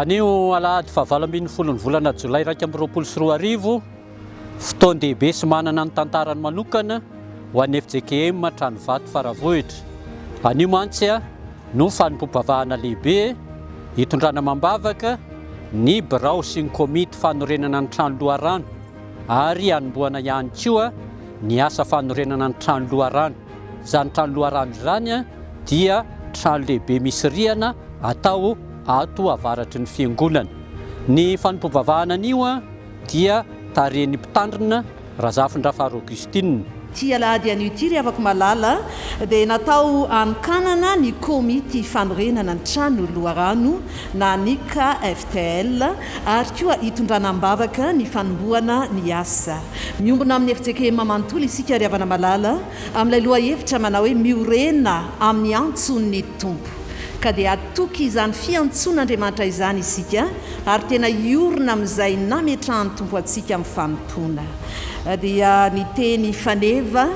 Anio alahady fahavalo ambin'ny folo ny volana jolay iraika amby roapolo sy roa arivo, fotoan-dehibe sy manana ny tantarany manokana ho an'ny fjkm Tranovato Faravohitra. Anio mantsy no fanompoam-pivavahana lehibe hitondrana amam-bavaka ny birao sy ny komity fanorenana ny trano loharano ary hanombohana ihany koa ny asa fanorenana ny trano loharano. Izany trano loharano izany dia trano lehibe misy rihana atao ato avaratry ny fiangonana. Ny fanompoam-bavahana anio dia tarihin'ny mpitandrina Razafindrafaro Augustine. Ity alahady anio ity ry havako malala dia natao hanokanana ny komity fanorenana ny trano loharano na ny KFTL ary koa hitondrana am-bavaka ny fanombohana ny asa. Miombona amin'ny FJKM manontolo isika ry havana malala, amin'ilay lohahevitra manao hoe Miorena amin'ny antson'ny Tompo. Ka dia hatoky izany fiantsoan'Andriamanitra izany isika ary tena hiorina amin'izay nametrahan'ny Tompo antsika amin'ny fanompoana. Dia ny teny faneva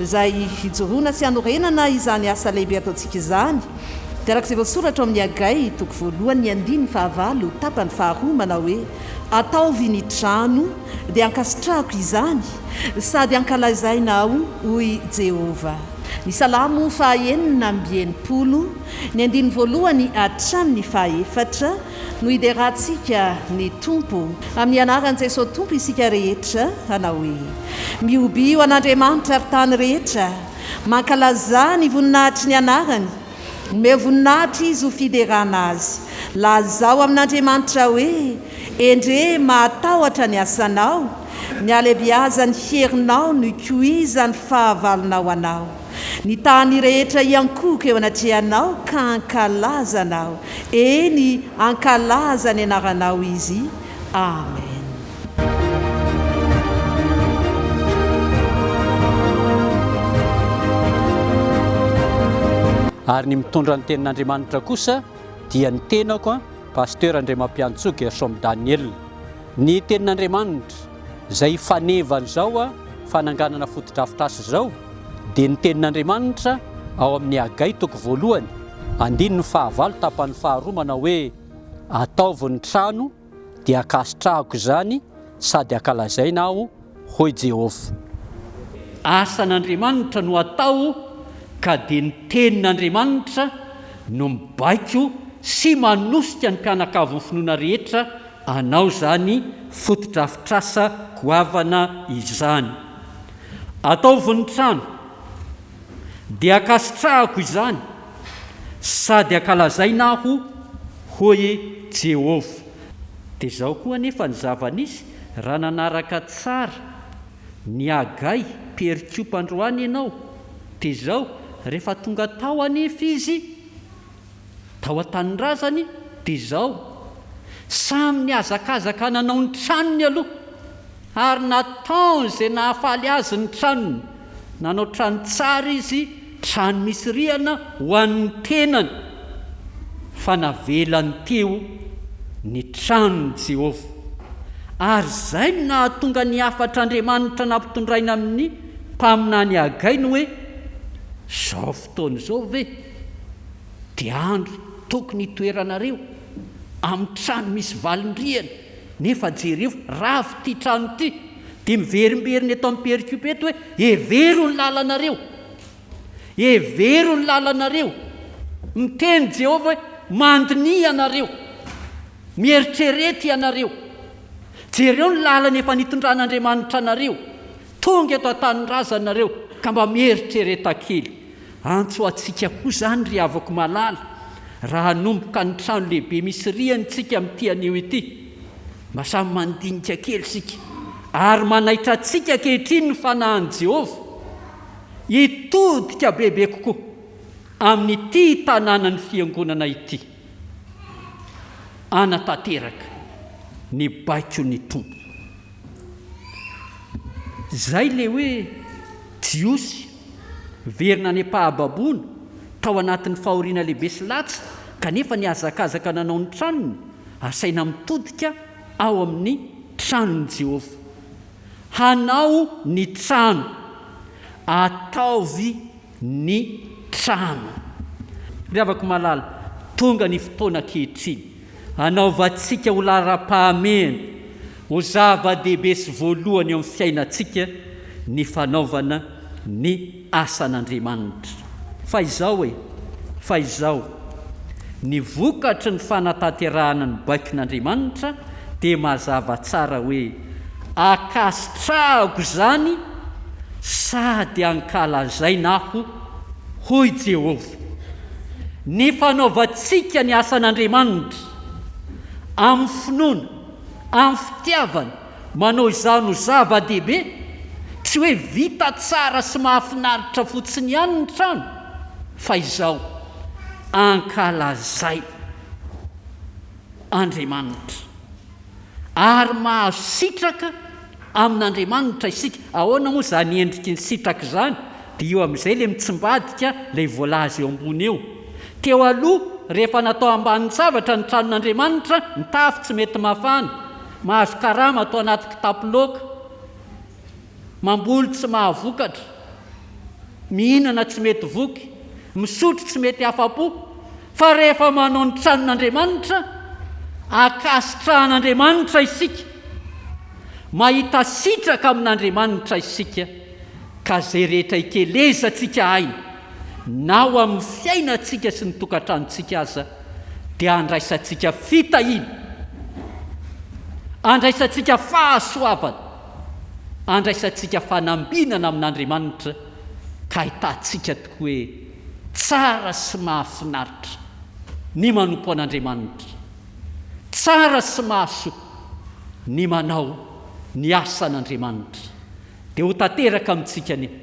izay hijoroana sy hanorenana izany asa lehibe ataontsika izany. Dia araka izay voasoratra ao amin'ny Hagay, toko voalohany, ny andininy fahavalo, tapany faharoa, manao hoe, Ataovy ny trano dia ankasitrahako izany, sady ankalazaina aho, hoy Jehovah. Ny Salamo fahaenina amby enimpolo, ny andininy voalohany hatramin'ny fahaefatra, no hiderantsika ny Tompo. Amin'ny anaran'i Jesosy Tompo isika rehetra, hanao hoe, Mihobio an'Andriamanitra, ry tany rehetra! Mankalazà ny voninahitry ny anarany, omeo voninahitra izy ho fiderana azy. Lazao amin'Andriamanitra hoe, Endrey mahatahotra ny asanao, ny halebiazan'ny herinao no ikoizan'ny fahavalonao anao. Ny tany rehetra hiankohoka eo anatrehanao ka hankalaza anao, eny, hankalaza ny anaranao izy. Amen. Ary ny mitondra ny tenin'Andriamanitra kosa dia ny tenako an, Pasteur Andriamampiantsoa Gershom Daniel. Ny tenin'Andriamanitra izay fanevan'izao an, fananganana fotodrafitrasa izao dia ny tenin'Andriamanitra ao amin'ny Hagay toko voalohany, andininy fahavalo tapany faharoa manao hoe, Ataovy ny trano dia ankasitrahako izany sady ankalazaina aho, hoy Jehovah. Asan'Andriamanitra no atao, ka dia ny Tenin'Andriamanitra no mibaiko sy manosika ny mpianakavin'ny finoana rehetra hanao izany fotodrafitrasa goavana izany. Ataovy ny trano. dia ankasitrahako izany sady ankalazaina aho, hoy i Jehovah. Dia izao koa anefa ny zava-nisy, Raha nanaraka tsara an'i Hagay, mpiherikopa androany ianao, dia izao, rehefa tonga tao anefa izy, tao an-tanindrazany dia izao, samy nihazakazaka nanao ny tranony aloha ary nataony izay nahafaly azy ny tranony, nanao trano tsara izy, trano misy rihana ho an'ny tenany, fa navelany teo ny tranon'i Jehovah. Ary izay no nahatonga ny hafatr'Andriamanitra nampitondraina amin'ny mpaminany Hagay ny hoe, Izao fotoana izao ve? Dia andro tokony hitoeranareo amin'ny trano misy valin-drihana, nefa jereo, rava ity trano ity, dia miverimberina eto amin'ny perikiopa eto hoe, Hevero ny lalanareo! Hevero ny lalanareo! Miteny Jehovah hoe, Mandiniha ianareo! Mieritrereta ianareo! Jereo ny lalana efa nitondran'Andriamanitra anareo! Tonga eto an-tanindrazanareo ka mba mieritrereta kely! Antso ho antsika koa izany ry havako malala raha hanomboka ny trano lehibe misy rihana isika amin'ity anio ity. Mba samy mandinika kely isika ary manaitra antsika ankehitriny ny fanahin'i Jehovah hitodika bebe kokoa amin'ity tanànan'ny fiangonana ity. Hanatanteraka ny baikon'ny Tompo izay ilay hoe Jiosy. Niverina any am-pahababoana, tao anatin'ny fahoriana lehibe sy latsy, kanefa nihazakazaka nanao ny tranony, asaina mitodika ao amin'ny tranon'i Jehovah. Hanao ny trano. Ataovy ny trano. Ry havako malala, tonga ny fotoana ankehitriny. Hanaovantsika ho laharam-pahamehana, ho zava-dehibe sy voalohany eo amin'ny fiainantsika ny fanaovana ny asan'Andriamanitra. Fa izao e! Fa izao, ny vokatry ny fanatanterahana ny baikon'Andriamanitra dia mazava tsara hoe ankasitrahako izany sady ankalazaina aho Hoy Jehovah, Ny fanaovantsika ny asan'Andriamanitra amin'ny finoana, amin'ny fitiavana, manao izany ho zava-dehibe, tsy hoe vita tsara sy mahafinaritra fotsiny ihany ny trano, fa izao, Ankalazaina Andriamanitra. ary mahazo sitraka amin'Andriamanitra isika. Ahoana moa izany endriky ny sitraka izany? Dia io amin'izay ilay mitsimbadika, ilay voalaza eo ambony eo. Teo aloha, rehefa natao ambanin-javatra ny tranon'Andriamanitra, ny tafo tsy mety mafana, mahazo karama atao anaty kitapo loaka. Mamboly tsy mahavokatra, mihinana tsy mety voky, misotro tsy mety afa-po, fa rehefa manao ny tranon'Andriamanitra, ankasitrahan'Andriamanitra isika, mahita sitraka amin'Andriamanitra isika, ka izay rehetra ikelezantsika aina, na ao amin'ny fiainantsika sy ny tokantranontsika aza, dia andraisantsika fitahiana, andraisantsika fahasoavana. andraisantsika fanambinana amin'Andriamanitra ka ahitantsika tokoa hoe tsara sy mahafinaritra ny manompo an'Andriamanitra, tsara sy mahasoa ny manao ny asan'Andriamanitra. Dia ho tanteraka amintsika ny.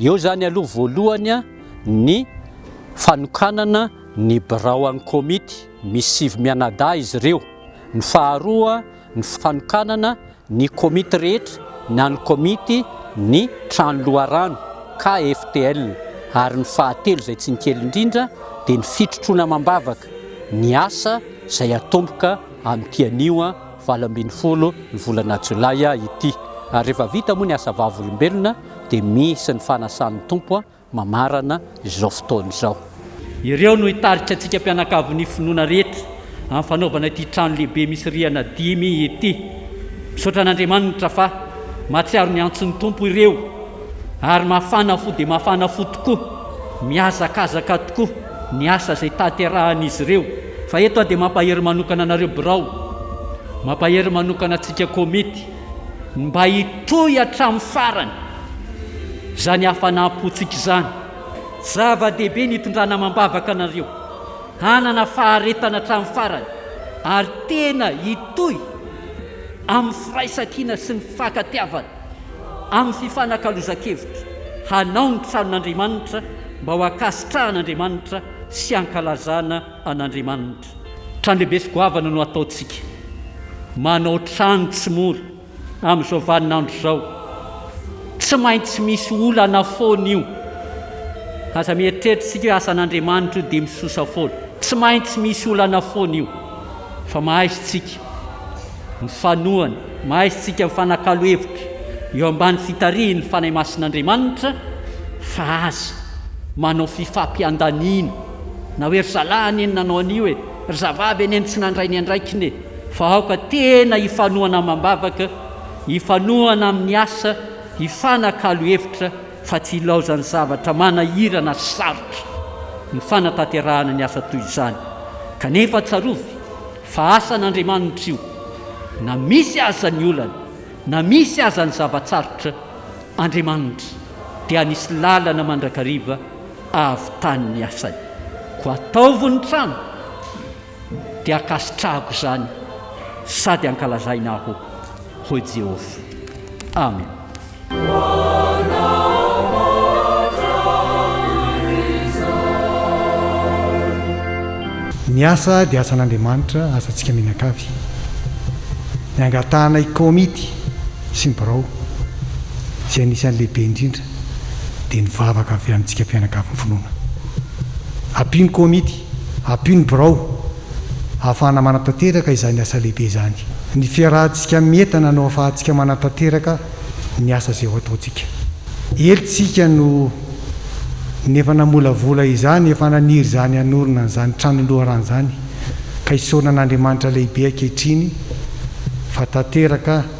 Eo izany aloha voalohany ny fanokanana ny birao an'ny komity, misy sivy mianadahy izy ireo. Ny faharoa ny fanokanana ny komity rehetra na ny komity ny trano loharano, KFTL, ary ny fahatelo izay tsy ny kely indrindra dia ny fitrotroana amam-bavaka ny asa izay hatomboka amin'ity anio valo ambin'ny folo ny volana jolay ity. Ary rehefa vita moa ny asa vavolombelona dia misy ny fanasan'ny Tompo mamarana izao fotoana izao. Ireo no hitarika antsika mpianakavin'ny finoana rehetra amin'ny fanaovana ity trano lehibe misy rihana dimy ity. Misaotra an'Andriamanitra fa mahatsiaro ny antson'ny Tompo ireo ary mafana fo dia mafana fo tokoa, mihazakazaka tokoa ny asa izay tanterahan'izy ireo. Fa eto aho dia mampahery manokana anareo birao, mampahery manokana antsika komity. ny mba hitohy hatramin'ny farany izany hafanam-pontsika izany. Zava-dehibe ny hitondrana amam-bavaka anareo hanana faharetana hatramin'ny farany ary tena hitohy amin'ny firaisankina sy ny fifankatiavana amin'ny fifanakalozan-kevitra hanao ny tranon'Andriamanitra mba ho ankasitrahan'Andriamanitra sy hankalazana an'Andriamanitra. Trano lehibe sy goavana no ataontsika. Manao trano tsy mora amin'izao vaninandro izao. Tsy maintsy misy olana foana io. Aza mieritreritra isika hoe asan'Andriamanitra io dia misosa foana. Tsy maintsy misy olana foana io. Fa mahaizy tsika mifanohana, mahaizy tsika mifanakalo hevitra eo ambany fitarihin'ny Fanahy Masin'Andriamanitra fa aza manao fifampiandaniana. Na hoe ry zalahy anie no nanao an'io e! Ry zavavy anie no tsy nandray ny andraikiny e! Fa aoka tena hifanohana amam-bavaka, hifanohana amin'ny asa, hifanakalo hevitra fa tsy hilaozan'ny zavatra manahirana sy sarotra ny fanatanterahana ny asa toy izany. Kanefa tsarovy fa asan'Andriamanitra io, na misy aza ny olana, na misy aza ny zava-tsarotra, Andriamanitra dia misy lalana mandrakariva avy tany ny asany. Koa ataovy ny trano dia ankasitrahako izany sady ankalazaina aho, hoy Jehovah. Amena. Ny asa dia asan'Andriamanitra, asantsika mianakavy. Ny angatahana i Komity sy ny birao, izay anisan'ny lehibe indrindra, dia ny vavaka avy amintsika mpianakavy finoana. Ampio ny komity, ampio ny birao, ahafahana manatanteraka izany asa lehibe izany. Ny fiarahantsika amin'ny entana no ahafahantsika manatanteraka ny asa izay ho ataontsika. Ely tsika no ny efa namolavola izany, efa naniry izany hanorina an'izany trano loharano izany, ka isaorana an'Andriamanitra lehibe ankehitriny fa tanteraka,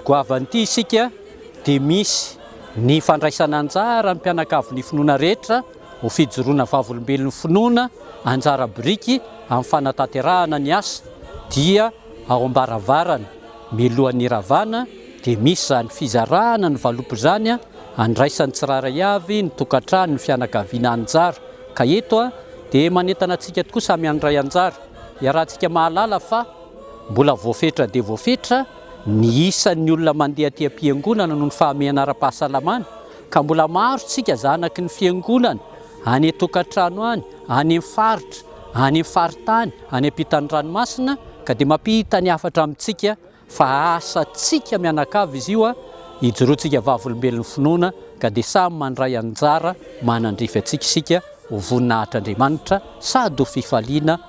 Goavan'ity isika dia misy ny fandraisana anjara ny mpianakavy ny finoana rehetra ho fijoroana vavolombelon'ny finoana anjara biriky amin'ny fanatanterahana ny asa dia ao ambaravarana milohan'ny hiravana dia misy izany fizarana ny valopy izany andraisan'ny tsirairay avy ny tokantrano ny fianakaviana anjara ka eto dia manentana antsika tokoa samy handray anjara iarahantsika mahalala fa mbola voafetra dia voafetra Ny isan'ny olona mandeha aty am-piangonana noho ny fahamehana ara-pahasalamana, ka mbola maro isika zanaky ny fiangonana, any an-tokantrano any, any amin'ny faritra, any amin'ny faritany, any am-pitan'ny ranomasina, ka dia mampita ny hafatra amintsika fa asantsika mianakavy izy io, ijoroantsika vavolombelon'ny finoana, ka dia samy mandray anjara manandrify antsika isika ho voninahitr'Andriamanitra sady ho fifaliana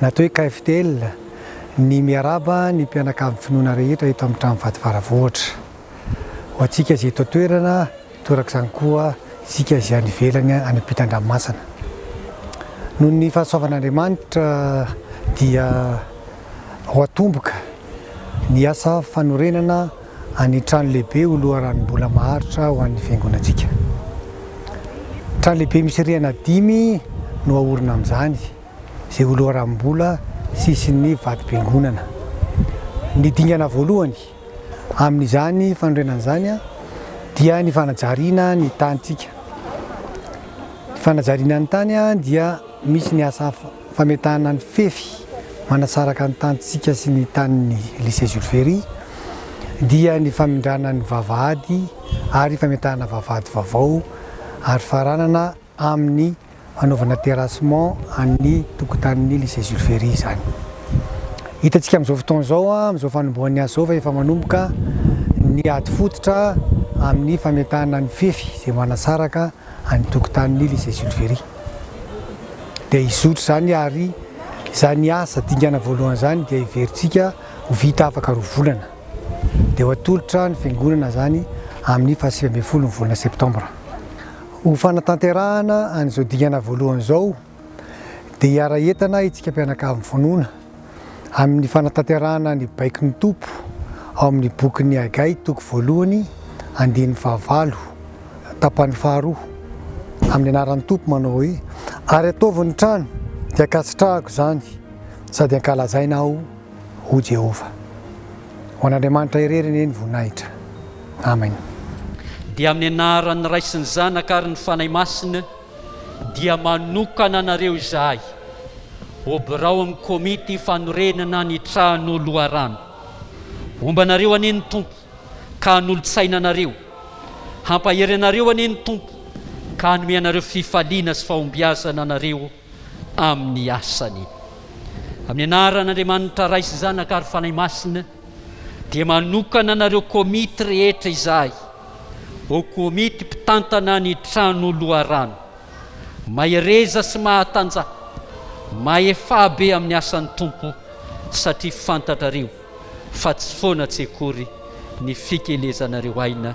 Natao hoe KFDL ny miarahaba ny mpianakavin'ny finoana rehetra eto amin'ny trano vato Faravohitra. Ho antsika izay eto an-toerana, toraka izany koa isika izay any ivelany any am-pitan-dranomasina. Noho ny fahasoavan'Andriamanitra dia ho atomboka ny asa fanorenana. Any trano lehibe ho loharanom-bola maharitra ho an'ny Fiangonantsika. Trano lehibe misy rihana dimy no haorina amin'izany, izay ho loharanom-bola sy isin'ny vati-piangonana. Ny dingana voalohany amin'izany fanorenana izany dia ny fanajariana ny tanintsika. Ny fanajariana ny tany dia misy ny asa hafa. Fametahana ny fefy manasaraka ny tanintsika sy ny tanin'ny Lycée Jules Ferry dia ny famindrana ny vavahady ary fametahana vavahady vaovao ary faranana amin'ny fanaovana terrassement an'ny tokotanin'ny Lycée Jules Ferry izany. Hitantsika amin'izao fotoana izao, amin'izao fanombohan'ny asa izao fa efa manomboka ny ady fototra amin'ny fametahana ny fefy izay manasaraka any tokotanin'ily izay Jules Ferry dia hizotry izany ary izany asa dingana voalohany izany dia heverintsika ho vita afaka roa volana dia ho atolotra ny fiangonana izany amin'ny fahasivy ambin'ny folo ny volana septambra ho fanatanterahana an'izao dingana voalohany izao dia hiara-hientana isika mpianakavy mivonona amin'ny fanatanterahana ny baikon'ny Tompo ao amin'ny bokin'ny Hagay toko voalohany andininy fahavalo tapany faharoa amin'ny anaran'ny Tompo manao hoe ary ataovy ny trano dia ankasitrahako izany sady ankalazaina aho ho Jehovah. Ho an'Andriamanitra irery anie ny voninahitra. Amen. Dia amin'ny anaran'ny Ray sy ny Zanaka ary ny Fanahy Masina. dia manokana anareo izahay ho birao amin'ny komity fanorenana ny trano loharano. Ombanareo anie ny Tompo ka hanolotsaina anareo. Hampahery anareo anie ny Tompo ka hanome anareo fifaliana sy fahombiazana anareo amin'ny asany. Amin'ny anaran'Andriamanitra Ray sy Zanaka ary Fanahy Masina, Dia manokana anareo komity rehetra izahay ho komity mpitantana ny trano loharano. Mahereza sy mahatanja, mahefabe amin'ny asan'ny Tompo, satria fantatrareo fa tsy foana tsy akory ny fikelezanareo aina.